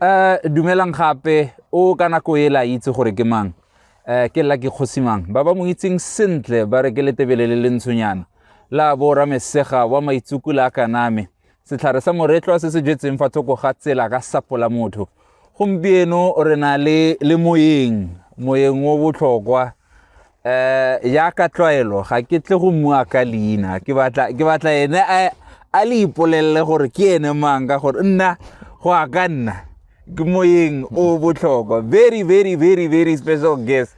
um dumelang gape o ka nako e la itse gore ke mang um ke la ke kgosi mang ba ba mo itseng sentle ba re ke letebele le le ntshonyana la bo ramesega wa maitsukula a kaname setlhare sa moretlwa se se jetseng fa thoko ga tsela ka sapola motho gompieno re na le le moyeng moyeng o botlhokwa eh ya ka tlwaelo ga ke tle go mua ka leina ke batla ke batla ene a a le ipolelele gore ke ene mang ka gore nna go a ka nna ke moyeng o botlhokwa very very very very special guest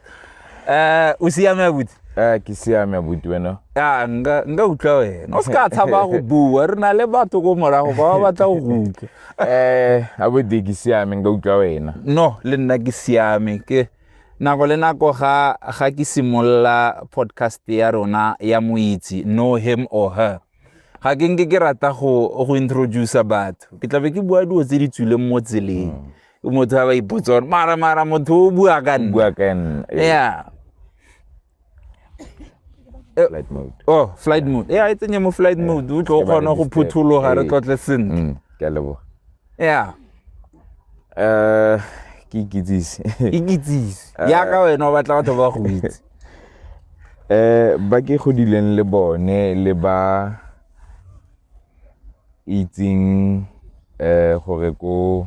eh o siame abuti eh ke siame abuti wena a nka nka utlwa wena o se ka tshaba go bua re na le batho ko morago ba ba batla go utlwa eh abuti ke siame nka utlwa wena no le nna ke siame ke Nako le nako ga ga ke simolola podcast ya rona ya moitse know him or her ga ke nke ke rata go go introduce batho ke tlabe ke bua dilo tse di tswileng mo tseleng motho a ba ipotsa gore mara mara motho o bua ka nna bua ka nna eh. yeah Eh, flight mode oh flight mode ya e tsenye mo flight mode o tlo o kgona go phuthologa re tlotle sentle mm, ke a leboga ya um ke ikitsise ikitsise yaka eh. wena o batla batho ba go itse um ba ke godileng le bone le ba itseng um gore ko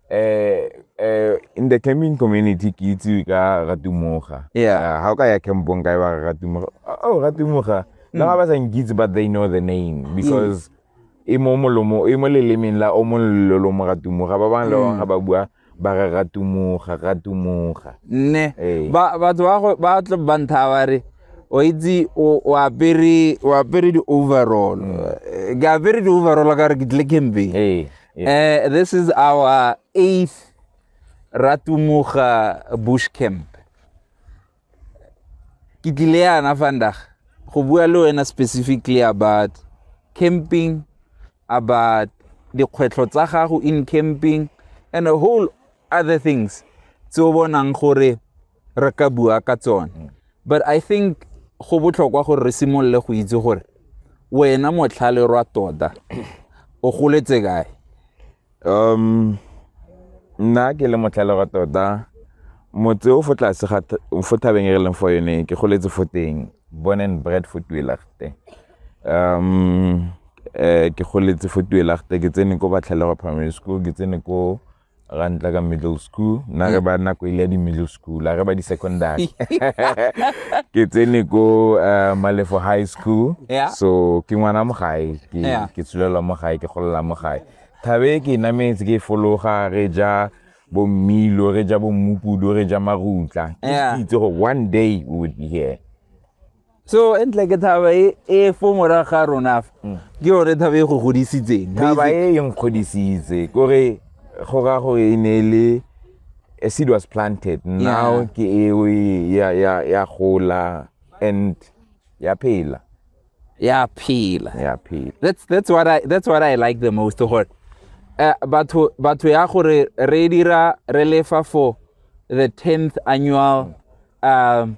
um in the camping community ke itsewe ka ratumoga ga o ka ya campong kae ba ratumoga oh ratumoga le ga ba sa nkitse but they know the name because e mo molomo e mo lelemeng la o mololo mo ratumoga ba bangwe le bangwe ga ba bua ba re ratumoga ratumoga nne batho ba tlo ba ntha ba re o itse o apere di-overall ke apere di-overall ka re ke tle camping Yeah. Uh, this is our eighth Ratumuga bush camp. Ke tlile yana vandag go bua le wena specifically about camping, about dikgwetlho tsa gago in camping and a whole other things tse o bonang gore re ka bua ka tsone mm. but i think go botlhokwa gore re simolole go itse gore wena motlhale rwa tota o goletse kae um nna ke le motlhale rwa tota motse o fo tlase ga fo thabeng e re leng fo yone ke goletse fo teng born and bread fo tuelagte um eh, ke goletse fo tuelagte ke tsene ko batlhalego primary school ke tsene ko ra ntla ka middle school nna re ba nako e le ya di-middle school a re ba di-secondary ke tsene ko uh, malefo high school yeah. so ke ngwana mo gae ke, yeah. ke tsholelwa mo gae ke golela mo gae thabe ke nametse ke fologa re ja bo mmilo re ja bo mmupudu re ja marutla ke itse gore one day we would be here so e ntle ke thaba e, e fo mora ga rona mm. ke yone thaba e go godisitseng thaba e e nkgodisitse kore go ra gore e ne e le a seed was planted now ke eo e, ya ya ya gola and ya phela ya phela ya phela that's that's what i that's what i like the most gore eh, batho batho ya gore re dira re lefa for the 10th annual mm. um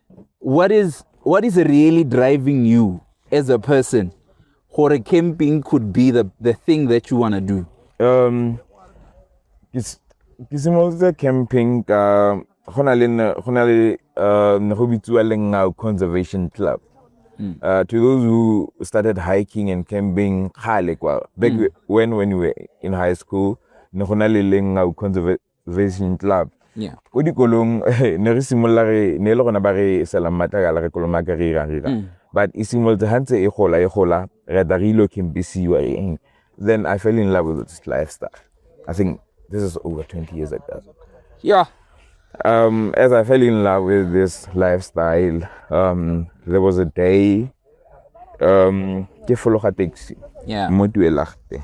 what is what is really driving you as a person gore camping could be the, the thing that you want to do um ke simolotse camping ka go na le go na le uh, ne go bitsiwa lengao conservation club Mm. Uh, to those who started hiking and camping kgale kwa back mm. when when you were in high school ne go na le lengau conservation Vision Club. Yeah. Ko dikolong ne re simolola re ne e le gona ba re selang matlakala re kolomaka re irang re irang. Mm. But e simolotse ha ntse e gola e gola re da re ilo campisiwa eng. Then I fell in love with this lifestyle. I think this is over 20 years ago. Yeah. Um, as I fell in love with this lifestyle, um, there was a day um, ke fologa taxi. Yeah. Mo Tuelagte.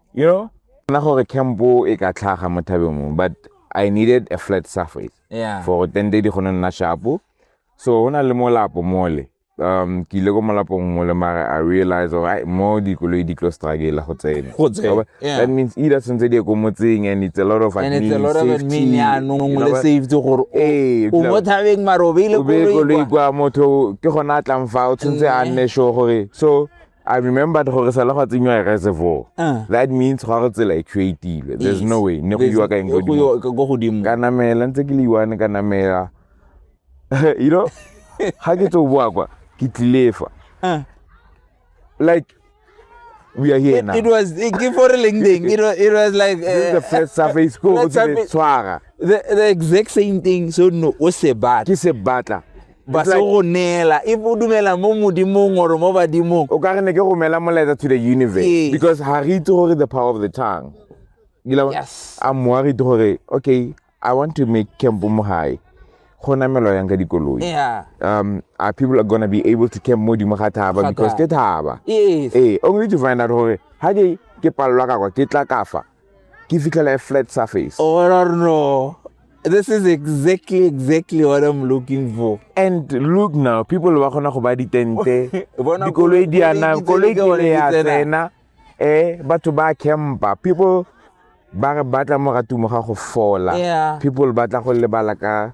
you know nna gore campo e ka tlhaga mo thabeng mo but i needed a flat surface yeah. for ten day di kgone nna shapo so go na le molapo mole um ke ile ko molapong mole mare i realize gore ai mo dikoloi di tlo strugela go tsena that means either tshwanetse di ye ko motseng and it's a lot of adminsafetyomo thabeng mare o beile koloi kwa motho ke gona a tlang fa o tshwanetse a nne sure gore so I remember gore sala gwa tsenywa reservoir. Ah. That means gwa go tsela e creative. There's no way. Ne go iwa ka eng go dimo. Go go dimo. Ka namela ntse ke le iwane ka namela. You know? Ha ke tso bua kwa ke tlilefa. Ah. Like we are here it, now. It was ke for leng ding. It was it was like uh, the first surface go go tshwara. The the exact same thing so no o se batla. Ke se batla. ba se go neela e bo dumela mo modimong or mo badimong o ka re ne ke romela molaetsa to the universe yes. because ha re itse gore the power of the tongue yes. a mmoa re itse gore okay i want to make camp mo gae go namelwa yang ka dikoloi yeah. um, are people are gonna be able to camp mo dimo ga thaba because ke thaba yes. ee only to find out gore ga ke ke palelwa kakwa ke tla kafa ke fitlhela e flat surface oh no no this is exactly exactly what i'm looking for and look now people ba kgona go ba ditente dikoloi di ana koloi ke ne ya tsena eh batho ba campa people ba re batla moratumo ga go fola people ba tla go lebala ka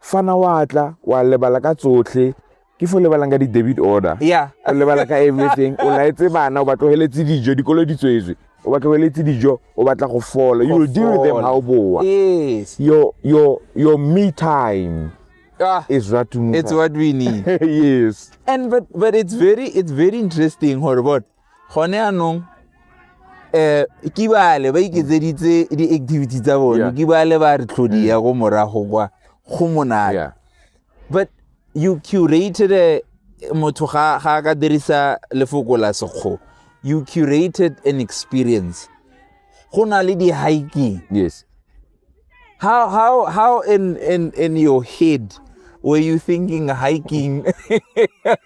fa na wa tla wa lebala ka tsotlhe ke fo lebalang ka di-debit order yeah. o lebala ka everything o laetse bana o ba tlogeletse dijo dikolo di tswetswe o ba tlogeletse dijo o batla go fola you will deal with them how boa yes. your, your, your me time ah, is what it's what we need yes and but, but it's very it's very interesting gore bone gone anong um ke bale ba iketseditse di-activity tsa bone ke bale ba re tlhodi ya ko morago kwa go monate but you curated eh, motho ga a ka dirisa lefoko la sekgo you curated an experience go na le di-hiking yes how, how, how in, in, in your head were you thinking hiking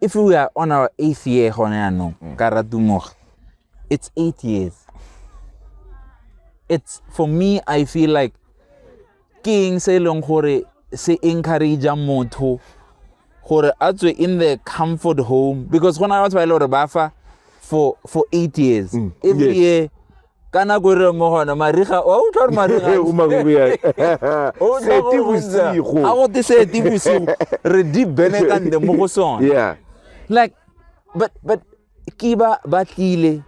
if we are on our eighth year gone yaanong mm. ka ratumoge it's eight years it's for me i feel like ke eng se e leng gore se encourage motho gore a tswe in the comfort home because go na le batho ba e le gore ba fa for for eight years mm. every yes. year ka nako e re mo gona mariga wa utlwa gore mariga Ee, o makuku ya O utlwa seti gore go ntse- bosigo a go te seti bosigo re di benekante mo go sone yeah like but but ke ba ba tlile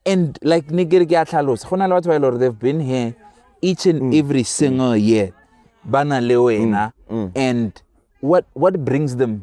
and like ne ke re ke a tlhalosa go na le batho ba e le gore they've been here each and every single year ba na le wena and what what brings them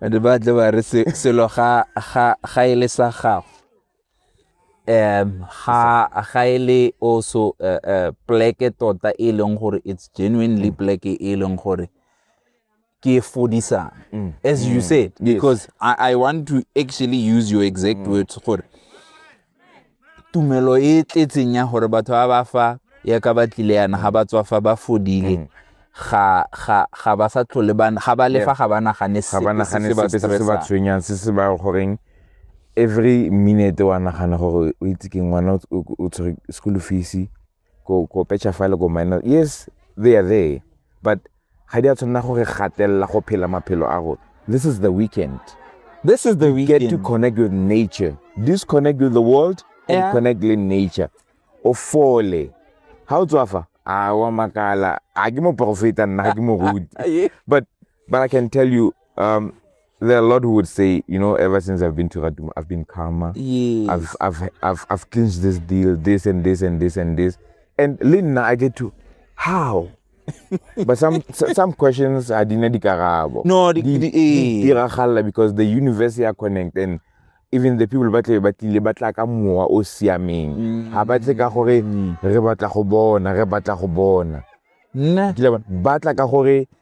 and ba tle ba re se- selo ga ga ga e le sa gago um ga ga e le also uh, uh, pleke tota e leng gore it's genuinely pleke e leng gore ke fodisang as you said because I, i want to actually use your exact words gore tumelo e tletseng ya gore batho ba ba fa ya ka ba tlile yana ga ba tswa fa ba fodile mm. ga ga ga ba sa tlhole ba ga ba lefa ga ba nagane se ba nagane se se ba tshwenyang se se ba goreng every minute wa nagana gore o itse ke ngwana o tshwere school fees ko ko pecture file ko minus, yes they are there but ga di a tshwanela go re gatelela go phela maphelo a rona. This is the weekend. This is the weekend. Get to connect with nature. Disconnect with the world and yeah. connect with nature. O fole. Ha o tswa fa? A wa makala. A ke mo profeta nna, ga ke mo rudi. But but I can tell you um there are a lot who would say, you know, ever since I've been to Radum, I've been calmer. Yeah. I've, I've, I've, I've clinched this deal, this and this and this and this. And Linda, I get to, how? but some some questions are dina di karabo. No, di, di, di, eh. di, di because the universe are connected and even the people ba tle ba tlile ba tla ka mowa o siameng mm. ga ba tle ka gore mm. re batla go bona re batla go bona nna ba tla ka gore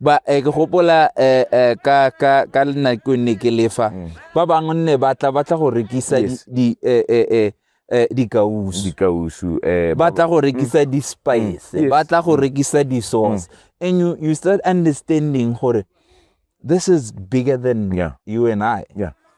ba eh, ke gopola eh, eh, ka ka ka lenako ne ke lefa mm. ba bangwe nne ba tla ba tla go rekisa di eh, eh, eh, eh dikausu dikausu eh ba tla go rekisa mm. di spice mm. ba tla go rekisa di sauce and you you start understanding gore this is bigger than yeah. you and I yeah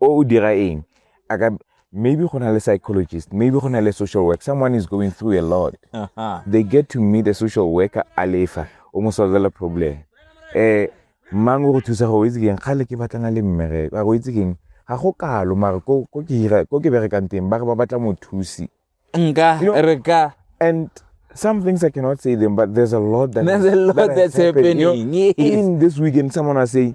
O o dira eng? A ka maybe go na le psychologist maybe go na le social work someone is going through a lot uh -huh. they get to meet a social worker a lefa o mo solvela problem eh mang o go thusa go itse keng kgale ke batlana le mmereko a go itse keng ga go kalo mare ko ke hira ko ke berekang teng ba re ba batla mothusi nka re ka and some things I cannot say them, but there's a lot that there's a lot that that's happening. happening. You know, yes. Even this weekend, someone was saying,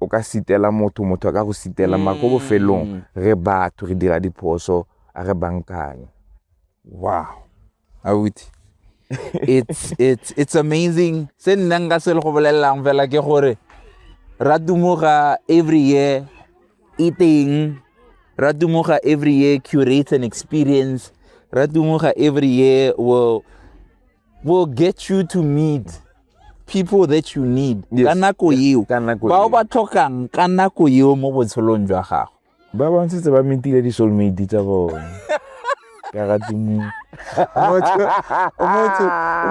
o ka sitela motho motho a ka go sitela mm. ko bofelong mm. re batho re dira diphoso a re bankanye wow auti it's it's it's amazing se nna nka se le go bolelelang fela ke gore ra dumoga every year e teng ra dumoga every year curate an experience ra dumoga every year will will get you to meet people that you need yes. ka nako eo bao ba tlhokang ka nako eo mo botshelong jwa gago ba bontshitse ba metile di-soulmate tsa bone ka ga tsimong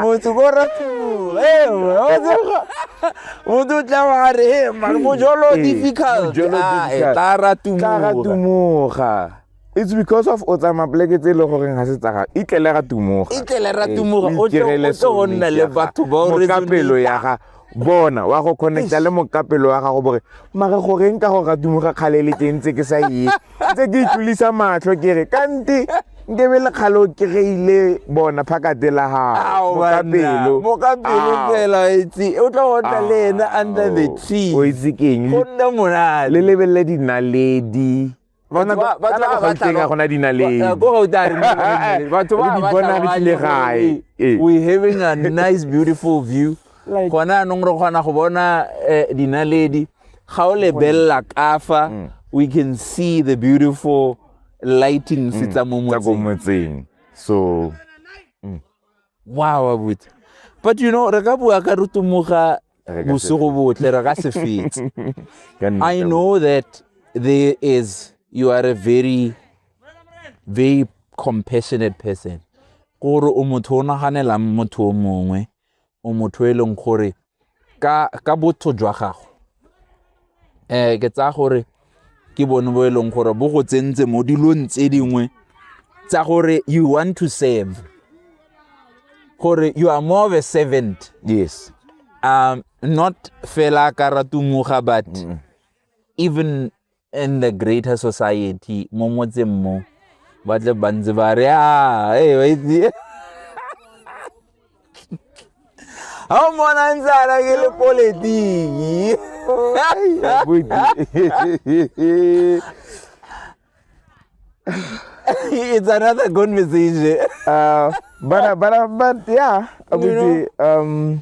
motho ko ratumumoto o tla wa re mojolo difficult tla ratumuga It's because of o tsamaya pleke tse e le goreng ga se tsaga e tlele ra tumoga e tlele ra eh, tumoga o tlo go nna le batho ba o mokapelo ya ga bona wa go connecta le mokapelo wa gago bore mare goreng ka go ra tumoga kgale le teng tse ke sa ye tse ke itlolisa matlho ke re kante nke be le kgale o kry-ile bona phakate la gagomokapelo fela itse o tla go tla le ena under the tea o itse keng go nna monate le lebelele dinaledi Batho ba- batho ba ba tla ba- gona dinaleng Ba- ko gauta a re mo go dinaleng. Batho ba- ba tla ba le gae Ee. we having a nice beautiful view Like- gona anong re kgona go bona eh, dinaledi ga o lebelela kafa Mm. we can see the beautiful lightings tsa mo tsa ko motseng motseng so wow abuti but you know re ka bua ka re tumoga Re ka se bosigo botle re ka se fetse Ka nnete, i know that there is you are a very very compassionate person gore o motho o naganelang motho o mongwe o motho e leng gore ka botho jwa gago um ke tsaya gore ke bone bo e leng gore bo go tsentse mo dilong tse dingwe tsa gore you want to serve gore you are more of a servant yes um not fela ka ratumoga but even and the greater society mo motseng mo ba tle ba ntse ba re a e ba itse ga o mona ntse ana ke le politiki it's another conversation uh, but, uh, but, uh, but yeah abuti um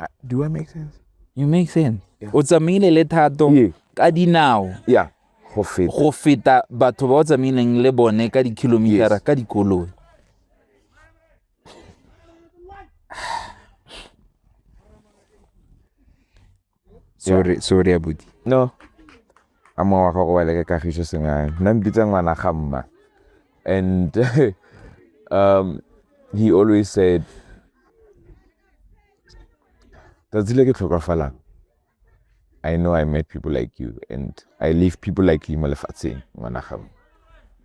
I, do I make sense? You make sense. Yeah. O tsamaile le thato yeah. ka dinao. Yeah. Go feta. Go feta batho ba o tsamaileng le bone ka di-kilometer yes. ka dikoloi. sorry sorry abuti no a mongwe wa gago wa leke kagiso sengane nna mpitsa ngwana ga mma and um, he always said Tsatsi le ke tlhokafalang, I know I met people like you and I leave people like you mo lefatsheng ngwana gago.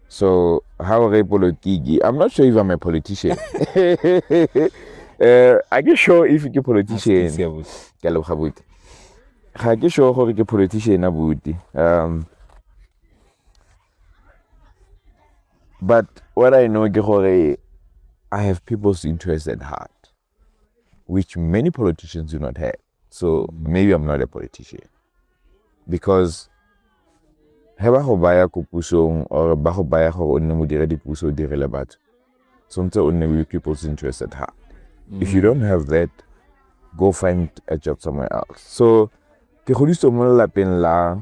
So ha o re politiki, I'm not sure if I'm a politician. uh, I get sure if ke politician. Ke leboga buti. Ga ke sure gore ke politician a buti. Um, but what i know ke gore i have people's interest at heart which many politicians do not have so maybe i'm not a politician because he ba go baya ko pusong or ba go baya gore o nne modiredi puso o direle batho tshwanetse o nne with people's interest at heart mm. if you don't have that go find a job somewhere else so ke godisitswe mo lelapeng la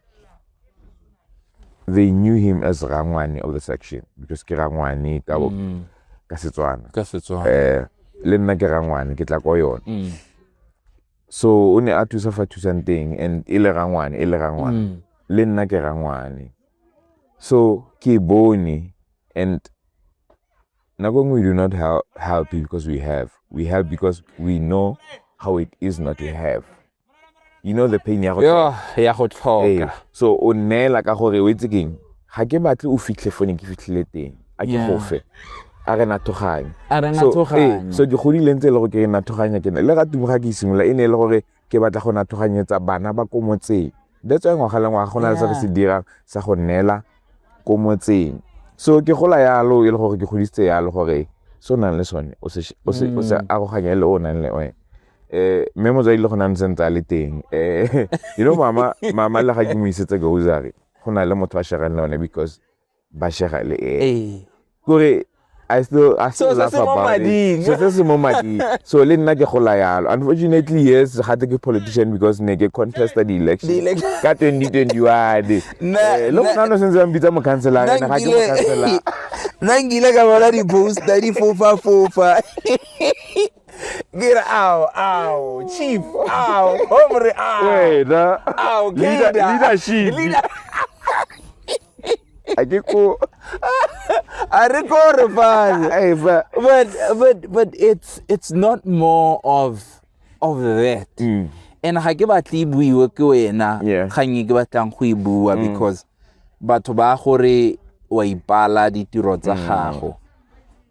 they knew him as rangwane of the section because ke rangwane ka bo Mm. ka setswana ka setswana eh le nna ke rangwane ke tla ko yone Mm. so o ne a thusa fa thusang teng and e le rangwane e le rangwane Mm. le nna ke rangwane so ke bone and nako nngwe we do not help, help because we have we help because we know how it is not to have you know the pain ya go ya go tlhoka so o neela ka gore o itse keng ga ke batle o fitlhe fone ke fitlhile teng a ke gofe a re nathoganye so ke godileng tse e le go ke nathoganya ke ne le ga tumo ga ke isimolola e ne e le gore ke batla go nathoganyetsa bana ba ko motseng that's why ngwaga le ngwaga go na le se re se dirang sa go neela ko motseng so ke gola yalo e le gore ke godisitse yalo gore se o nang le sone o se mm. aroganye le o nang le one eh mme motsadi le gona ntse ntse a le teng eh you know mama mama le ga ke mo isetse grocery go na le motho a shegang le one because ba shega le eh ee kore I still I still So, se laugh se mo about mading. it. So se se mo mading. So le nna ke gola yalo. Unfortunately yes, ga te ke politician because ne ke contested the election. The election. Ka 2021. Na- Eh, Lo na- mona no sentse ba mpitsa mo counselor nna ne ga ke mo counselor. nkile nna nkile ka bona di-poster di fofa fofa Get out, ow, chief, ow, hombre, ow. wena Ow, Leader- Keda. leadership Leader- a ke ko I record it, father. Hey, ba- but but but it's it's not more of of that Mm. and ga ke batle e buiwe ke wena Yeah. Mm. kgang e ke batlang go e bua because batho ba gore wa ipala ditiro tsa gago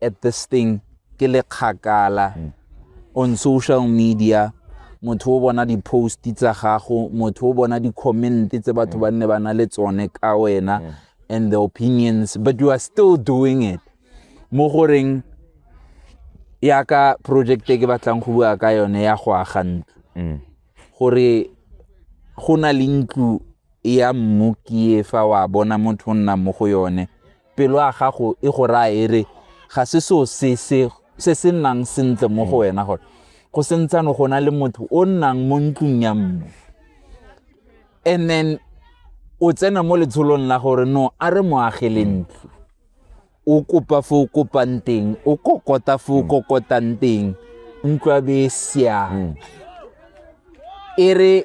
at this thing ke le kgakala mm. on social media motho o bona di-post tsa gago motho o bona di-comment tse batho ba nne ba na le tsone ka wena mm. and the opinions but you are still doing it mo goreng yaka project e ke batlang go bua ka yone ya go aga ntlo mm. gore go na le ntlo ya mmu ke fa wa bona motho o nna mo go yone Pelo ya gago e go raya e re ga se seo se se se se nnang sentle mo go wena gore go sentsano go na le motho o nnang mo ntlong ya mmu and then o tsena mo letsholong la gore no a re mo agele ntlo o kopa fo o kopang teng o kokota fo o kokotang teng ntlo ya be e siame e re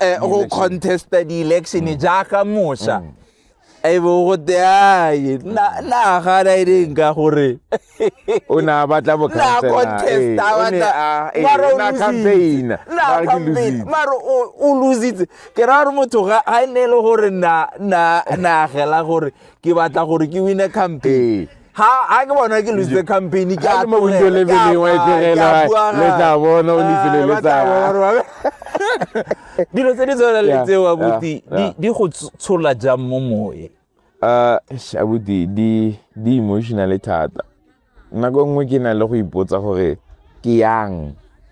eh, go contesta di-election mm. jaaka mosa mm. e bo gote ae nagana e leng ka gore o ne a batla bocampaignermare o lositse ke ra gore motho ga e ne e le gore naagela gore ke batla gore ke wine campaign ha a ke bona ke lose campaign ke a mo window le bini wa itirela le tla bona o lifile le tsa dilo tse di tsona le tse wa buti di go tshola jang mo moye uh shabuti di di emotional thata nako nngwe ke na le go ipotsa gore ke yang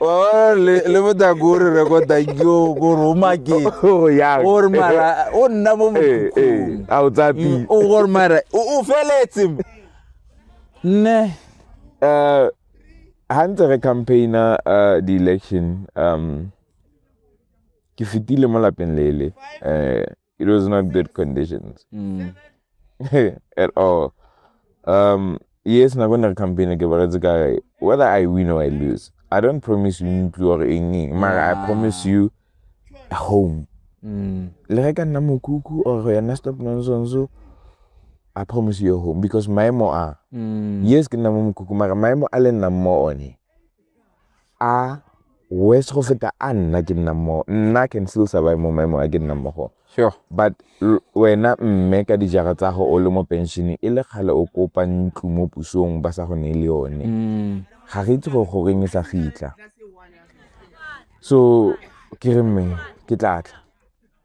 Oh, le le botla ko re rekota yo ko roma ke o ya o re mara o nna mo eh eh a o tsa pi o go re mara o feletse ne eh ha ntse re campaigner uh, the election um ke fitile mo lapeng lele eh It was not good conditions Mm. at all. Um, yes, na gonna campaign again, but it's a guy. Whether I win or I lose, I don't promise you ntlo or anything. Mara, I promise you a home. Mm. Le re ka nna mokuku or go yana stop nonsense. so, I promise you a home because my mo are. Mm. Yes, ke nna mo mokuku, mara my mo a le nna mo one. a worse go feta a nna ke nnang mo nna can still survive mo maemong a ke nnang mo go sure but wena mme ka dijara tsa go o le mo pension e le kgale o kopa ntlo mo pusong ba sa go ne le yone mm. ga re itse go go reng e sa fitlha so ke re mme ke tlatla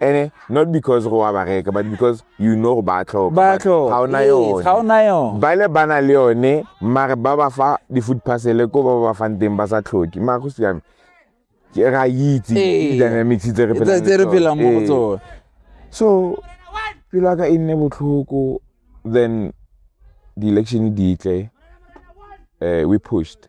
ene not because go wa ba reka but because you know go ba tlhoka ba tlhoka ga ona yone ga ona yone ba le bana le yone mare ba ba fa di food parcel ko ba ba fang teng ba sa tlhoki ma go siame ke ra itse ee. dynamics tse re phela tse re phela mo ee. tsone so pila ka inne botlhoko then the election di tle uh, we pushed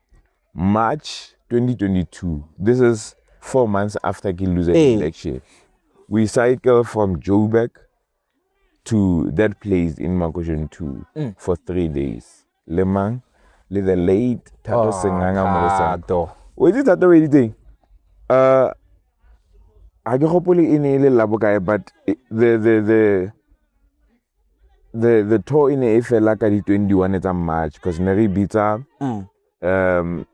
March 2022, this is four months after ke lose hey. election. We cycle from Joburg to that place in Makoshen 2 mm. for three days. Lemang, le the late Tato oh, Senganga Mosa. O itse thata o editseng? Uh, a ke gopole e ne e le labo kae but the, the, the the the tour e ne e fela ka di 21 tsa march because ne re bitsa mm. um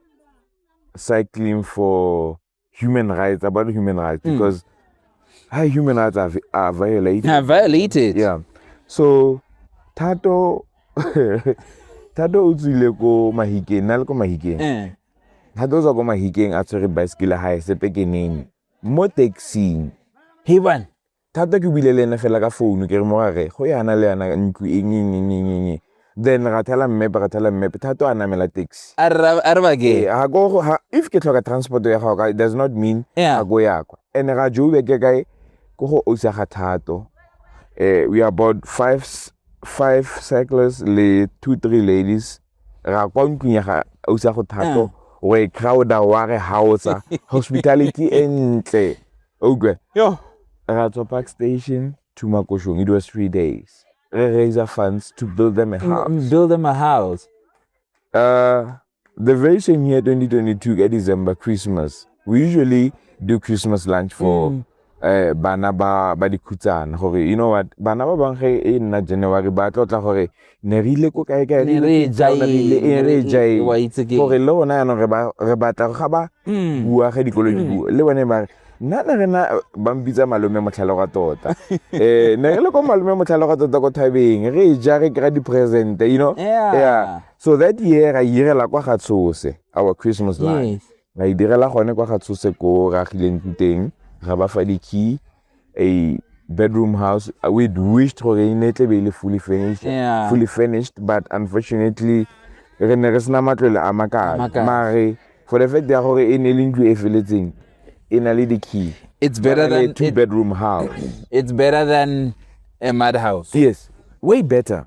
cycling for human rights about human rights mm. because how human rights are, are violated are violated yeah so thato thato o tswile ko mahikeng na le ko mahikeng eh. thato o tswa ko mahikeng a tshwere bicycle hae sepekeneng mo taxing heban Thata ke buile le ene fela ka founu kere morare go yana le yana ntlo eng eng eng eng eng eng. Then ra thala mmepe ra thala mmepe Thato a namela taxi. A re a re ba ke. Ee, ha ko ha if ke tlhoka transport ya gago it does not mean Yeah. ga ko ya kwa. And ra Joburg ke kae ko go ausa ga Thato. Eh we are about five s- five cyclists le two three ladies ra kwa ntlong ya ga ausa go Thato. We crowd-a wa re haotsa hospitality e ntle. o utlwe yo ra tswa park station to makoshong it was three days re raiser funds to build them a mm, house mm, build them a house uh, the very same year 2022 ka december christmas we usually do christmas lunch for mm. eh bana ba ba dikhutsana gore you know what bana ba bang ge e nna january ba tlotla gore ne re ile ko kae kae ne re e ja e re e ja e wa itse ke gore le rona yana re ba re batla ga ba hmm. bua ge dikolo di bua le bone ba re nna ne re na ba mpitsa malome motlhalo ga tota eh ne re le ko malome motlhalo ga tota ko thabeng re e ja re kry di present you know yeah. yeah so that year ra irela kwa ga tshose our christmas life yes. ra e direla gone kwa ga tshose ko ra gileng teng ra ba fa di key a bedroom house. Uh, we wished for Renetlebele fully finished, yeah. fully finished, but unfortunately, re ne re sena matlole a makalo mare for the fact ya gore e ne le ntlo e feletseng e na le di-key it's better than two it, bedroom house it's better than a mad house yes way better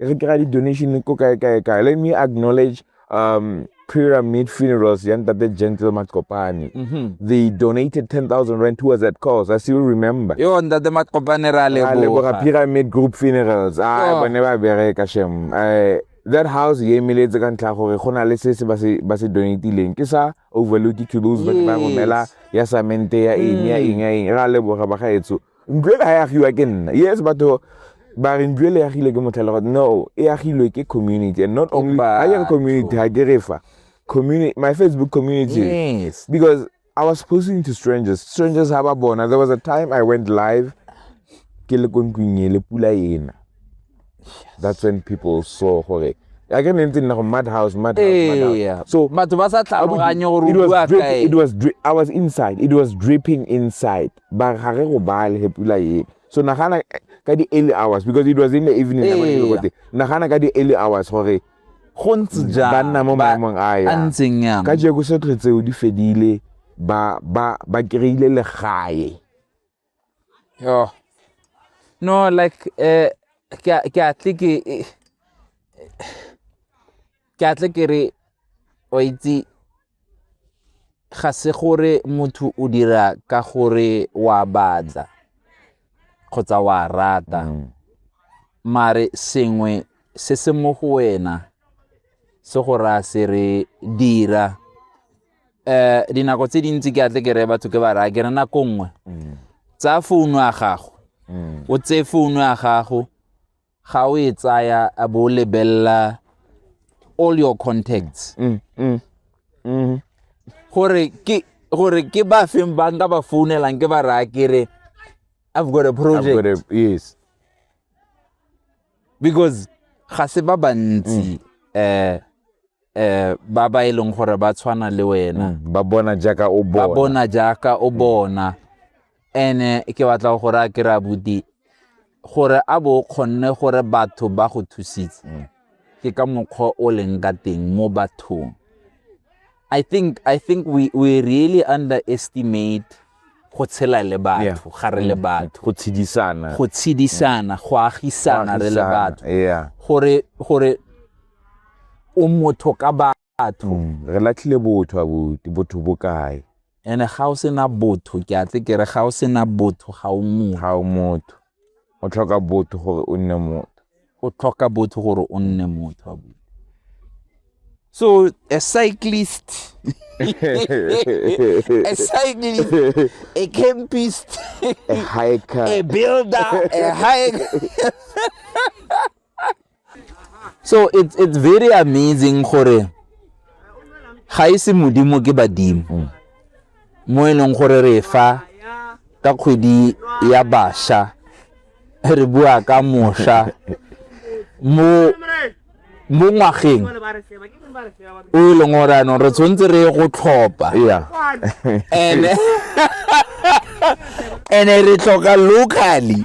e re kry-a di-donation ko kae kae kae let me acknowledge um pyramid funerals ya ntate gentle maqopane mm -hmm. they donated 10000 rand towards that cause i still remember yo ntate maqopane ra leboga pyramid group funerals a ah, oh. bone ba bereka shem eh, that house e emeletse ka ntlha gore go na le se se ba se donatileng ke sa overload to those ba ba romela ya samente ya eng ya mm. eng ya eng ra leboga ba gaetso ntlo e ka ya agiwa ke nna yes batho ba re ntlo e le agile ke motlhelo no e agilwe ke community and not only ga ke community ga ke re fa community my facebook community yes because i was posting to strangers strangers ha ba bona there was a time i went live ke le ko ntlong e le pula ena that's when people saw gore a ke ne ntse nna go mad house mad house so batho ba sa tlhaloganye gore o bua kae it was i was inside it was dripping inside ba ga re go bale he pula e so nagana ka di early hours because it was in the evening ee. nagana ka di early hours gore go ntse jang ba nna mo maemong a ya ntseng yang ka jeko se tletseo di fedile ba ba ba kreile legae Yo. No, like, eh, ke a- ke a tle ke, eh, ke a tle ke re, wa itse, ga se gore motho o dira ka gore wa batla kgotsa wa rata mare sengwe se se mo go wena se go raya se re dira um dinako tse dintsi ke atle ke reye batho ke ba raya ke re nako nngwe tsaya founu ya gago o tseye founu ya gago ga o e tsaya a bo o lebelela all your contacts gore ke gore ke ba feng ba nka ba founelang ke ba raya ke re i've got a I've got project a- yes because ga se ba bantsi um eh ba ba e leng gore ba tshwana le wena mm, ba bona jaaka o bona ba bona jaaka o bona ene ke batla gore a kry-a buti gore a bo kgonne gore batho ba go thusitse mm. ke ka mokgwa o leng ka teng mo bathong i think i think we, we really underestimate go tshela le batho ga re le mm. batho go tshedisana go tshedisana go agisana re le batho gore gore o motho ka batho mm, re latlhile botho abuti botho bo kae ene ga o sena botho ke atle ke re ga o sena botho ga o motho ga o motho o tlhoka botho gore o nne motho o tlhoka botho gore o nne motho abuti so a cyclist a cyclist a campist a hiker a builder a hiker so it's, it's very amazing gore ga e se modimo ke badimo mm. mo e leng gore re fa ka kgwedi ya basha re bua ka mosha mo mo ngwageng o e leng gore anong re tshwanetse re ye go tlhopa ene ene re tlhoka locally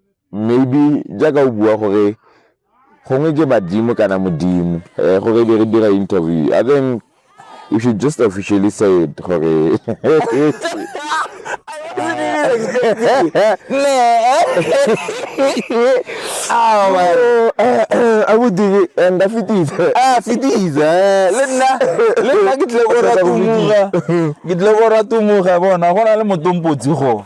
Maybe jaaka o bua gore gongwe ke badimo kana modimo gore be re dira interview I think you should just officially say it gore abuti nda fetisa a fetisa le nna le nna ke tle go ratumuga ke tle go ratumuga bona go na le motompotsi go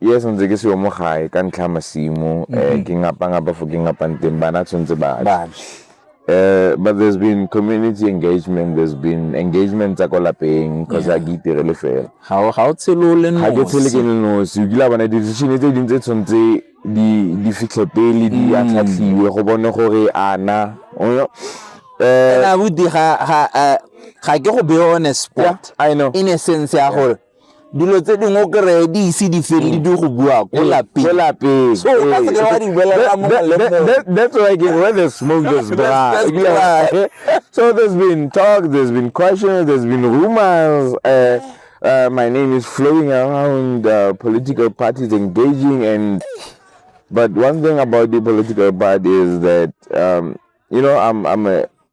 yes ntse ke seyo mo gae ka ntlha ya masimo um eh, mm-hmm. ke ngapangapa fo ke ngapang teng bana tshwanetse ba Uh, but there's been community engagement, there's been engagement tsa ko lapeng because a ke itirele fela. Ga o ga o tshelo le no. Ga ke tshele ke no, se ukila bana decision tse dintse tshwantse di di fitlhe pele di a mm. tlhatlhiwe go bone gore ana. Eh na budi ga ga eh, ga ke go be on a spot. Yeah, I know. In a sense ya gore dilo tse dingwe o kry-e di ise di fele di go bua ko lapeng so o ka seke wa di bolela mo that's why again where the smoke just dry so there's been talk there's been questions there's been rumors uh, uh, my name is flowing around uh, political parties engaging and but one thing about the political party is that um, you know I'm I'm a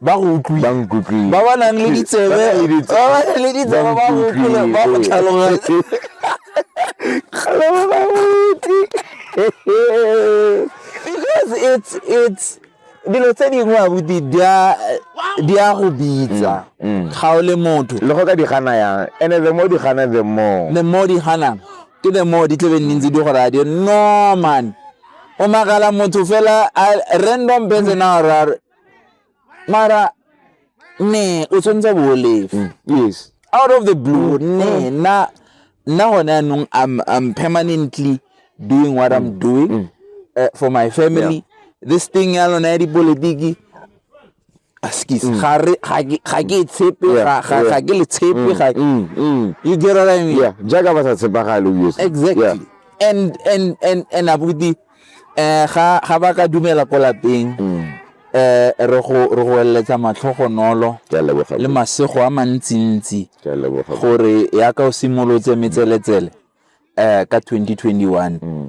ba go utlwile ba nkutlwile ba ba nang le ditsebe Ba nang le ditsebe. ba ba nang le ditsebe ba go utlwile ba go tlhaloganye because it's it's dilo tse dingwe abuti di a di a go bitsa ga o le motho le go ka di gana yang and the more di gana the more the more di ganang ke the more di tlebe nne ntse di go raya di re, no man o magala motho fela a random person a orare mara ne o tshwanetse bo o lefe mm. yes out of the blue mm. ne mm. na nna gone anong I'm, i'm permanently doing what i'm doing uh, for my family yeah. this thing ya lona ya dipolotiki Askies. Mm. Ga re ga ke ga ke e tshepe Yeah, ga ga yeah. ga ke le tshepe ga Mm, mm. you get what I mean? Yeah, jaaka ba sa tshepagale obviously. Exactly. Yeah. And and and and abuti eh ga ga ba ka dumela ko lapeng Mm. eh re go re go eletsa matlhogonolo Ke a leboga. le masego a mantsintsi Ke a leboga. gore ya ka o simolotse metseletsele eh ka 2021 Mm.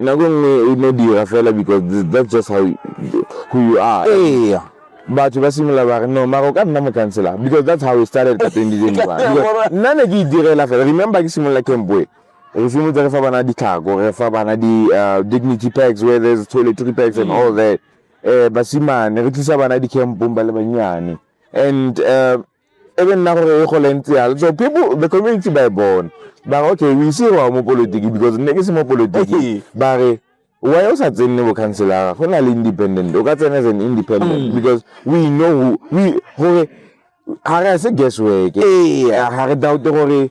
Nako nngwe e no dira fela because that's just how who you are. Ee, batho ba simolola ba re no mara o ka nna mokhanselara because that's how we started ka twenty twenty one nna ne ke e direla fela remember ke simolola campoe re simolotse re fa bana ditlhako re fa bana di-dignity uh, packs where there's toiletry packs and all that um basimane re tlisa bana di-campong ba le bannyane and um e be nna gore e gole ntse yalo so people the community ba e bona ba re okay we see wa mo politiki because nne ke se mo politiki ba re why o sa tsenne bo councilora go na le independent o ka tsena as an independent mm. because we know who, we gore ga re se guess work ga re doubt gore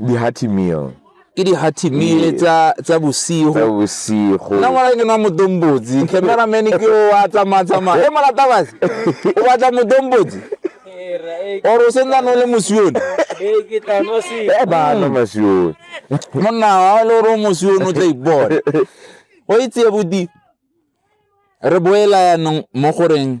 di-hearty meal ke di-hearty meal Ee. tsa tsa bosigo tsa bosigo nna ngwana ke nwa motombotsi cameraman ke o a tsamatsamaya e molatabase o batla motombotsi or o sentsa no le mosione Eh, ba nwa masione monna wa le gore o mosione o tla ipone go itse bodi re boela yanong mo goreng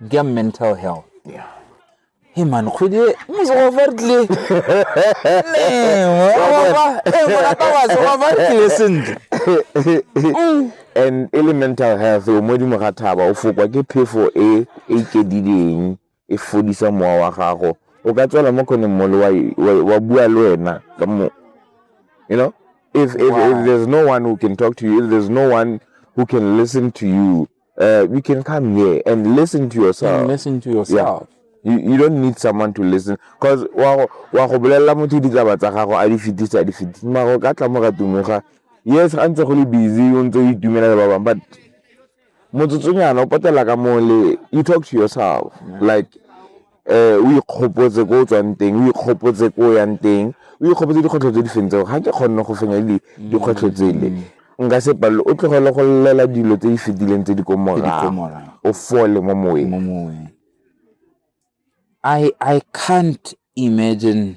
Dia mental health. Yeah. Hey man, kgwedi e mosogo fa re tlile. And e mental health o mo dimo ga thaba o fokwa ke phefo e e ikedileng e fodisa mowa wa gago. O ka tswela mo kgoneng mole wa bua le wena ka mo you know if if, wow. if there's no one who can talk to you if there's no one who can listen to you uh, we can come here and listen to yourself. And listen to yourself. Yeah. You, you don't need someone to listen because wa go wa go bolelela motho ditaba tsa gago a di fitisa a di fitisa mara ka tla mo ga tumega yes ga ntse go le busy o ntse o itumela le ba bang but motsotsonyana o patela ka mo le you talk to yourself yeah. like o ikgopotse ko o tswang teng, o ikgopotse ko o yang teng, o ikgopotse dikgwetlho tse di fentseng ga ke kgonne go fenya dikgwetlho tsele. Nka se palelwe, o tlogele go llela dilo tse di fetileng tse di ko morago, o fole mo moweng. I can't imagine.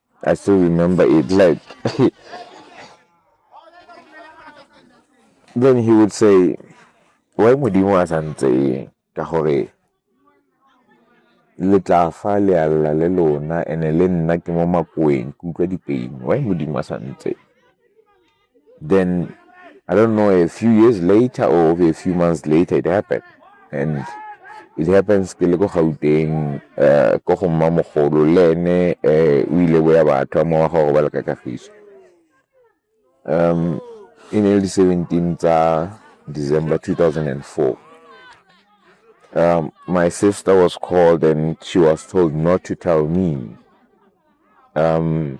I still remember it. Like, then he would say, why modimo a santse ka gore le tla fa le a lla le lona ene le nna ke mo makoeng ke utlwa dipeini why modimo a santse Then I don't know, a few years later or a few months later, it happened. And it happens ke le ko gauteng um ko go mma mogolo le ene um o ile boya batho mo wa gore ba le ka kagiso um e ne le di-seventeen tsa december 2004 um, my sister was called and she was told not to tell me um,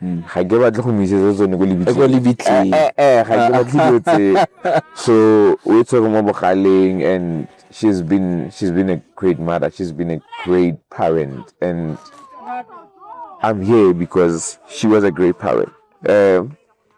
ga ke batle go mo isetsa tsone ko lebitleng ga ke batle dilo tse so o e tshwere mo bogaleng and she's been she's been a great mother she's been a great parent and i'm here because she was a great parent um,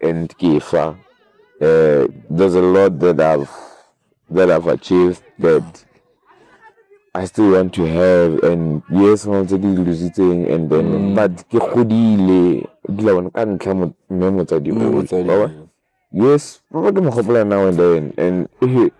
and Kifa. Uh, there's a lot that I've that I've achieved that I still want to have and yes mo tse ke lositseng and then mm. but ke godile dila bona ka ntlha mo mme motsadi o yes ba ba ke mo gopola now and then and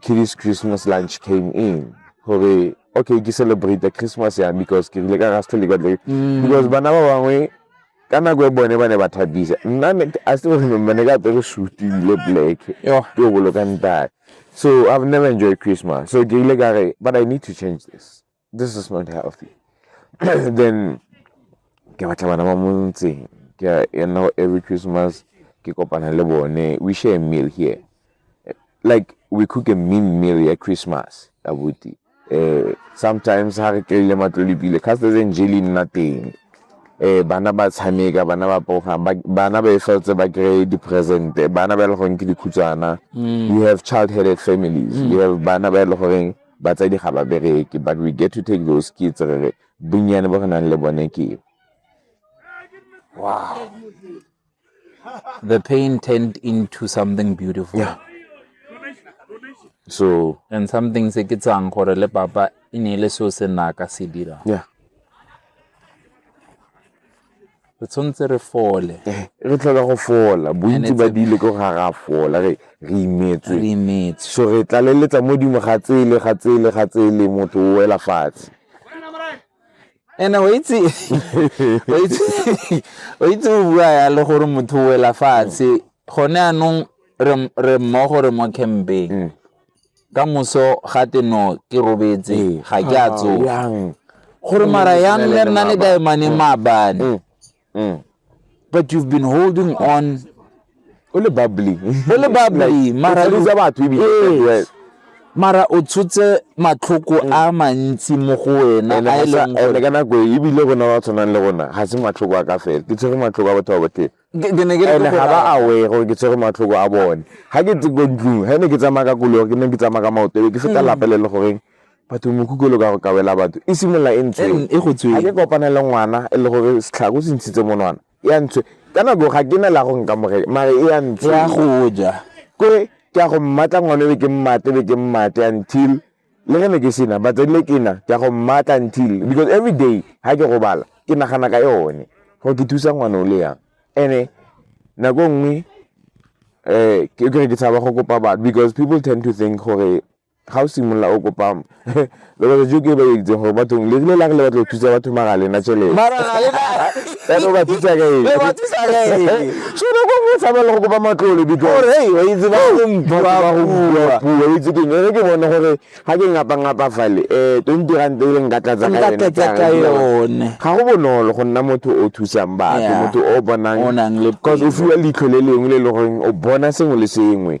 Kitty's Christmas lunch came in. Hore, okay, ke celebrate the Christmas ya because ke rile ka ga still got like mm. because bana ba bangwe ka nako e bone ba ne ba thabisa. Nna I still remember ne ka apere suit le black. Yo, ke boloka ntate. So I've never enjoyed Christmas. So ke rile ka re, but I need to change this. this is not healthy then ke batla bana ba mo ntseng ke you know every christmas ke kopana le bone we share a meal here like we cook a mean meal ya christmas abuti eh sometimes ha re tlile matlolipile cause there's angel in nothing eh bana ba tshameka bana ba poga bana ba efeltse ba kry di present bana ba le goreng ke dikhutsana mm. we have child headed families mm. we have bana ba le goreng batsadi ga ba bereke but we get to take those kids re re bonnyane bo re nang le bone ke wow the pain turned into something beautiful yeah. so and something se ke tsang gore le papa e ne le so se naka se dira yeah re tshwanetse re fole eh, re tlhoka go fola bontsi ba dile ko ga ra fola re re imetswe re imetswe so re tlaleletsa mo dimo ga tsele ga tsele ga tsele motho o wela fatshe ene o itse o itse o itse o bua ya le gore motho o wela fatshe gone anong re mmogo re mo campeng mm. ka moso ga te no ke robetse ee. ga ke a ah, tsoga gore mara yang le nna le kae mane mm. maabane mm. mm. but you've been holding on o le bubbly o le bubbly mara le tsa batho ebile mara o tshotse matlhoko a mantsi mo go wena a e leng gore ka nako e, ebile rona ba tshwanang le rona ga se matlhoko a ka fela ke tshwere matlhoko a batho ba botlhele Ke- ke ne ke re and-e ke ga ba bolaya. aware gore ke tshwere matlhoko a bone ga ke tse ko ntlong ga ne ke tsamaya ka koloi ke ne ke tsamaya ka maoto ebe ke feta Mm. lapele le goreng batho mokhukololo ka go ka wela batho e simolola e ntshwe Mm, e go ga tsweng. ke kopane le ngwana e le gore setlhako se ntshitse monwana e a ntshwe ka nako ga ke na la go nkamogele mare e a ntshwe ya go ja kore ke a go mmatla ngwana ebe ke mmate ebe ke mmate until Le ge ne ke sena batsadi le kena ke ya go mmatla until because every day ga ke gobala ke nagana ka yone gore ke thusa ngwana o le yang and-e nako nngwe um ke kere ke tshaba go kopa batho because people tend to think gore ga o simolola o kopa lebaka jo ke ba itseng gore bathong le rile la re le batla go thusa batho mara lena tšhelete Yaanong ba thusa ka eng? Ba thusa ka eng? So ba go go tshaba le go kopa matlole because gore hey ba itse ba go mpiwa go mpiwa puo itse ke ne ke bona gore ha ke ngapa ngapa fale eh 20 rand e le nka tlatsa ka yone nka tlatsa ka yone ga go bonolo go nna motho o thusang batho motho o bonang o nang le because o fiwa leitlho le lengwe le le gore o bona sengwe le sengwe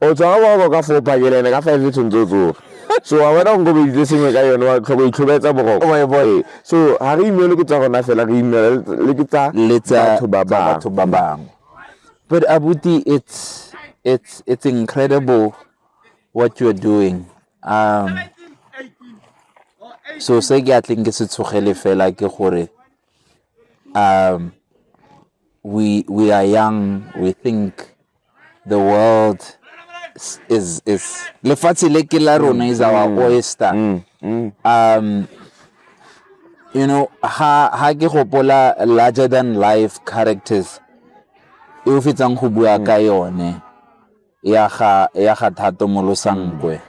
o tswa wa go ka fopa ke lene ka five tshwanetse o tsoge so wa bona go kobeditse sengwe ka yone wa tlhoko itlhobetsa boroko boe boe so ga re imele ke tsa gona fela re imele le ke tsa batho ba bangwe but abuti it's it's it's incredible what you're doing um so se ke a tleng ke se tshogele fela ke gore Um, we we are young. We think the world is is lefatshe le ke la rona is our mm. oyster. Mm. Mm. Um, you know, ha ha ke gopola larger than life characters e o fetsang go bua ka yone ya ga ya ga thato molosankwe. Mm.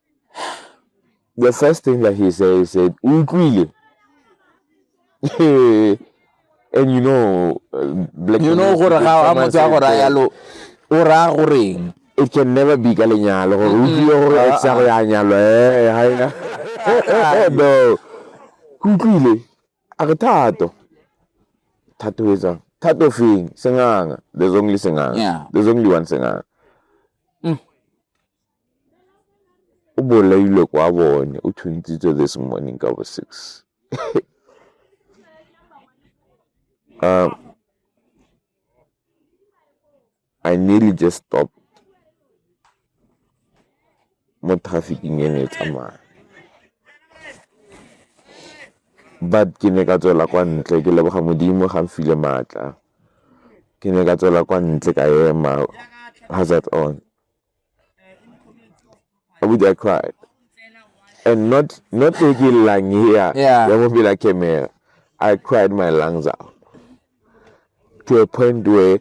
The first thing that he said, he said, Ukwile. and you know, uh, black you know, gore ga a motse a gore ya lo o ra goreng it can never be ka lenyalo gore o tlile gore e tsa go ya nyalo eh ha ina no utlwile a re thato thato e tsang thato feng senganga there's only senganga yeah. there's only one senganga mm. O bolailwe kwa bone, o thuntshitswe this morning ka bo six. I nearly just stopped mo traffick-ing e ne e tsamaya but ke ne ka tswela kwa ntle ke leboga modimo ga nfile maatla ke ne ka tswela kwa ntle ka ema hazard on. abuti i cried and not not taking lang here yeah there won't be like a mayor i cried my lungs out to a point where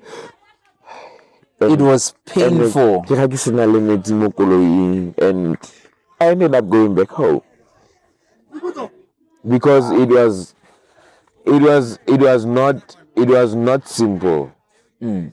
um, it was painful ke ga ke sena le metsi mo koloing and i ended up going back home because it was it was it was not it was not simple mm.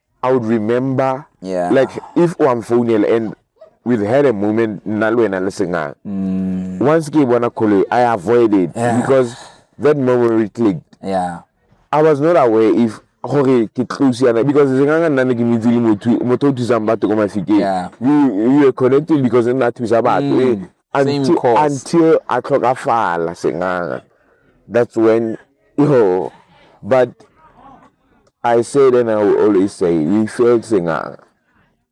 I would remember yeah. like if o am founela and we've had a moment nna le wena le sengana mm. once ke bona koloi i avoided yeah. because that memory clicked yeah. i was not aware if gore ke close yana because senganga nna ne ke mitse le motho o thusang batho ko mafikeng you, you are connected because nna thusa batho mm. until, until a tlhokafala senganga that's when yo but i said and i will always say we failed senganga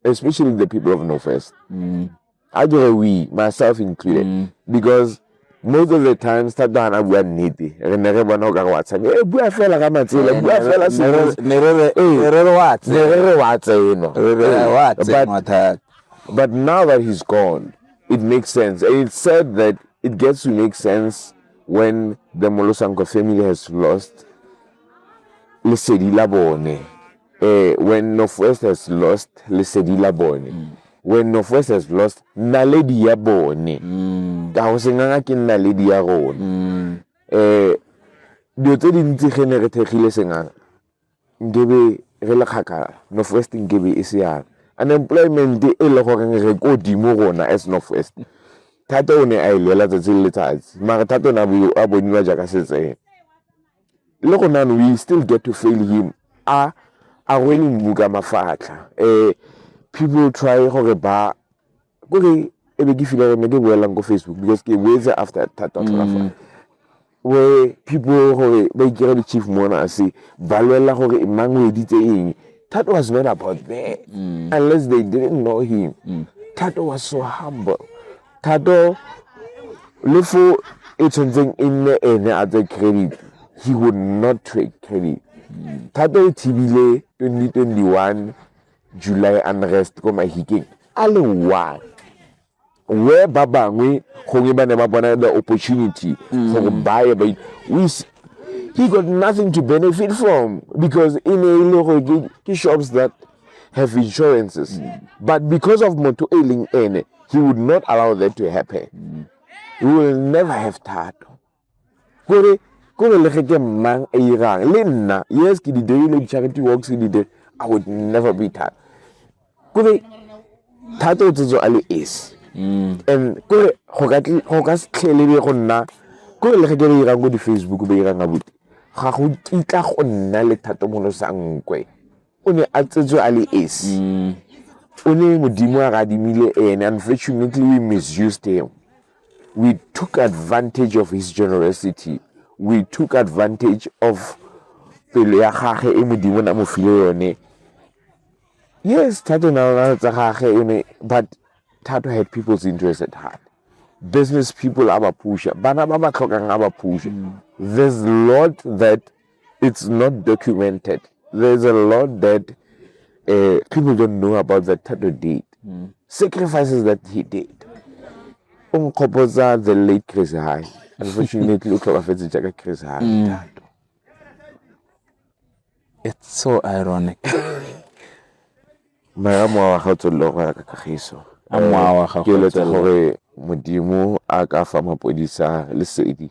especially the people of north west mm. i get we myself included mm. because most of the times thata ga na bua nnete re ne re bona o ka re wa tshameka e bua fela ka matsela bua fela ne re re wa tseno but now that he's gone it makes sense. And it's sad that it gets to make sense when the Molosanko family has lost Lesedi Labone. Uh, eh, when Northwest has lost Lesedi Labone. Mm. When Northwest has lost Naledi ya bone. Mm. Ka go senganga ke Naledi ya rone. Mm. Eh, dilo tse dintsi ge ne re thekgile senganga Nkebe re le kgakala, North West nkebe e se yana. Unemployment e le gore re ko godimo rona as North West, Thato o ne a e lwela 'tsatsi le letsatsi mare Thato o ne a boniwa jaaka setsebe. Le gone jaanong we still get to fail him, a rwele mmu ka mafatlha. People try gore ba. kore e be ke feel gore ne ke boelang ko facebook because ke boetse after thata mm. tlhola where people gore ba ikira di-chief mona se ba lwelela gore e mang o editse eng that was not about that mm. unless they didn't know him mm. thato was so humble thato le fo e tshwanetseng e nne ene a tse credit he would not take credit mm. thato o thibile 2021 July unrest ko Mahikeng a le one where ba bangwe gongwe ba ne ba bona the opportunity mm. gore ba ye ba he got nothing to benefit from because e ne e le gore ke shops that have insurances mm. but because of motho e leng ene he would not allow that to happen mm. we will never have thato kore kore le ge ke mmang a irang le nna yes ke di dirile di-charity works di dire i would never be tired kore thata o tsetso a le esi mm. and kore go ka setlhele be go nna kore le ge ke le irang ko di-facebook ba irang abuti ga go kitla go nna le thatomolosa nkwe o ne a tsetswe a le esi mm. o ne modimo a re adimile ene unfortunately we misused him we took advantage of his generosity we took advantage of pelo ya gage e modimo na mo file yone yes thato na lona tsa gage o ne but thato had people's interest at heart business people a ba pusha bana ba ba tlhokang a ba pusha mm. there's lot that It's not documented. There's a lot that uh, people don't know about that Tato did. Mm. Sacrifices that he did. Unkopoza the late Chris High. Unfortunately, Uklabafetsi Jaka Chris High. Mm. It's so ironic. Mara mwa wa gago tsolo go ya ka kagiso. A mwa wa gago tsolo. Ke eletsa gore modimo a ka fa mapodisa lesedi.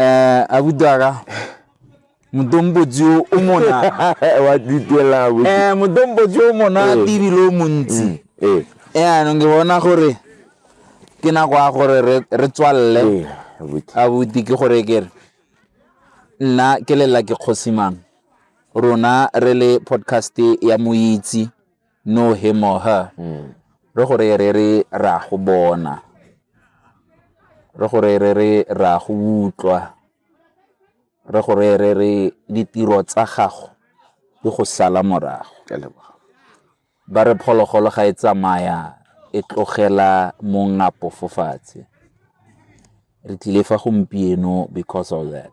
Eh, abudu aga modombotsi o o mona wa ditela bo eh modombotsi o mona Eh. tibile o montsi eh eh anong ke bona gore ke nako ya gore re- re tswalele eh abuti abuti ke gore ke re nna ke lela ke kgosimang rona re le podcast ya moitsi no him or her mm. re gore re re ra go bona re gore re re ra go utlwa re gore re re ditiro tsa gago di go sala morago ba re phologolo ga e tsamaya e tlogela mongapo fo fatshe re tlile fa gompieno because of that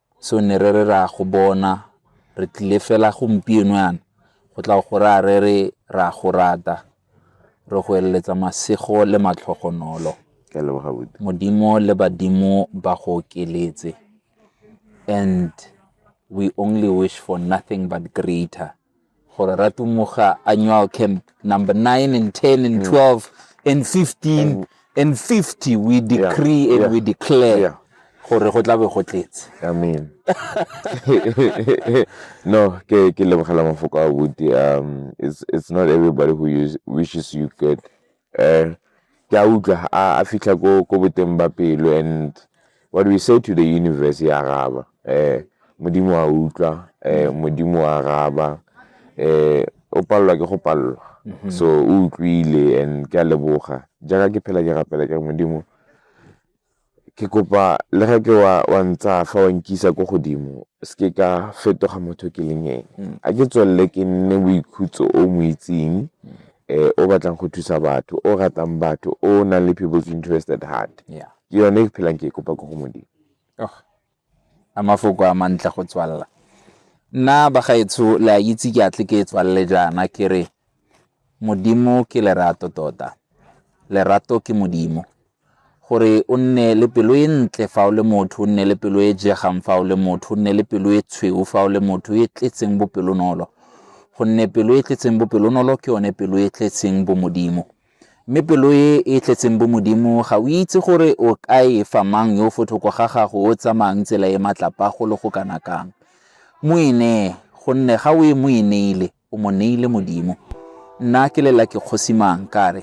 seo ne re re ra go bona re tlile fela gompieno yana go tla go raya re re ra go rata re go eleletsa masego le matlhogonolo modimo le badimo ba go okeletse and we only wish for nothing but greater gore ratumuga annual camp number 9 and 10 and 12 mm. and 15 and, and 50 we decree yeah, and yeah, we declare yeah. gore go tlabe go tletse amen no ke ke lebogela mafoko a buti um it's it's not everybody who use, wishes you good um ke a utlwa a fitlha ko boteng ba pelo and what we say to the universe e araba um modimo a utlwa um modimo a araba um o palelwa ke go palelwa mhm. so o utlwile and ke a leboga jaaka ke phela ke rapela ke modimo ke kopa le ga ke wa wa ntsaya fa wa nkisa ko godimo se ke ka fetoga motho ke leng ene mm. a ke tswelele ke nne boikhutso o mo itseng mm. eh o batlang go thusa batho o ratang batho o nang le people's interested heart ke yone ke phelang ke e kopa ko go modimo oh, A mafoko a mantle go tswalela. Nna bagaetsho le a itse ke atle ke tswalele jaana ke re Modimo ke lerato tota. Lerato ke Modimo. Gore o nne le pelo e ntle fa o le motho, o nne le pelo e jegang fa o le motho, o nne le pelo e tshweu fa o le motho e tletseng bopelonolo. Gonne pelo e tletseng bopelonolo ke yone pelo e tletseng bomodimo. Mme pelo e e tletseng bomodimo, ga o itse gore o ka e fa mang yo fo thoko ga gago o tsamayang tsela e matlapa go le go kana kang. Mo e nee, gonne ga o e mo e neile, o mo neile Modimo. Nna ke lela ke kgosi mang, ka re,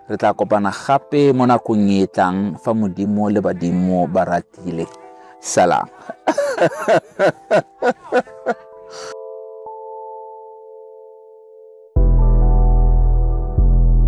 re tla kopana gape mo nakong e tlang fa Modimo le badimo ba ratile. Salang.